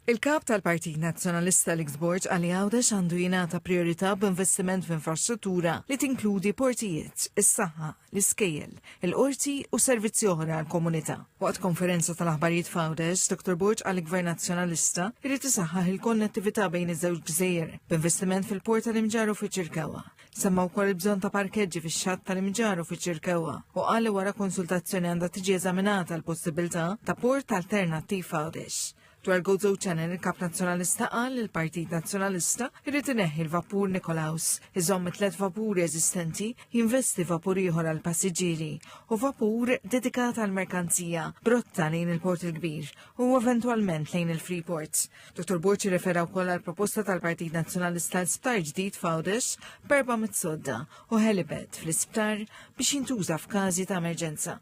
Il-Kap tal-Partit Nazzjonalista Alex Borg għal Għawdex għandu jingħata priorità b'investiment f'infrastruttura li tinkludi portijiet, is-saħħa, l-iskejjel, il-qorti u servizzi oħra għall-komunità. Waqt konferenza tal-aħbarijiet f'Għawdex, Dr. Borg għal Gvern Nazzjonalista jrid isaħħaħ il-konnettività bejn iż-żewġ gżejjer b'investiment fil-port tal-Imġar u fiċ-Ċirkawa. Semma wkoll il-bżonn ta' parkeġġi fix-xatt tal-imġar u fiċ-ċirkewwa u qal li wara konsultazzjoni għandha tiġi eżaminata l-possibilità ta' port alternattiv Għawdex. Dwar Gozo Channel il-Kap Nazzjonalista qal li l-Partit Nazzjonalista jrid ineħħi l-vapur Nikolaus, iżomm it-tlet vapuri eżistenti, jinvesti vapur ieħor għal passiġġieri u vapur dedikat għal merkanzija brotta lejn il-Port il-Kbir u eventwalment lejn il-Freeport. Dottor Borg jirrefera wkoll għal proposta tal-Partit Nazzjonalista l sptar ġdid f'Għawdex b'erba' mit-sodda u helibed fl-isptar biex jintuża f'każi ta' emerġenza.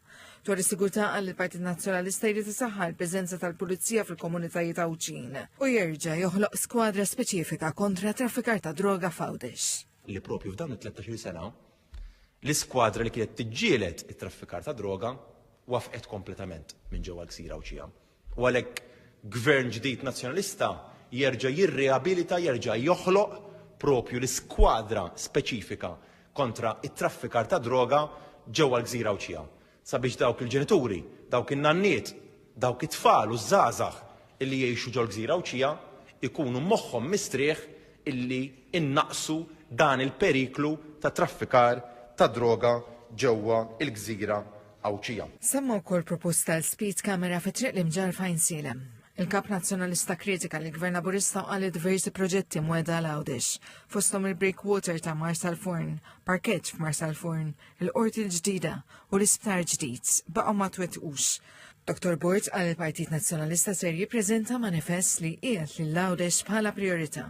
Dwar is-sigurtà għal il-Partit Nazzjonalista jrid isaħħa l-preżenza tal-Pulizija fil-komunitajiet Għawdxin u jerġa' joħloq skwadra speċifika kontra traffikar ta' droga f'Għawdex. Li propju f'dan it-13 sena l-iskwadra li kienet tiġġieled it-traffikar ta' droga wafqet kompletament minn ġewwa l-Ksira u U għalhekk Gvern ġdid Nazzjonalista jerġa' jirriabilita, jerġa' joħloq propju l-iskwadra speċifika kontra t-traffikar tad-droga ġewwa l-Gżira Għawdxija, sabiex dawk il-ġenituri, dawk in-nanniet, dawk it-tfal u ż-żgħażagħ li jgħixu ġol-Gżira Għawdxija jkunu moħħhom mistrieħ illi nnaqqsu dan il-periklu ta' traffikar tad-droga ġewwa l-Gżira Għawdxija. Semma wkoll proposta għal speed camera fi triq l-imġar fajn silem. Il-kap nazzjonalista kritika li gvern Laburista għalli diversi proġetti mweda l għawdex fostom il-breakwater ta' Marsal Forn, parkeġġ f'Marsal Forn, il-qorti l-ġdida u l-isptar ġdid baqgħu ma twettqux. Dr. Bort għal il-Partit Nazzjonalista ser jippreżenta manifest li qiegħed lil għawdex bħala priorità.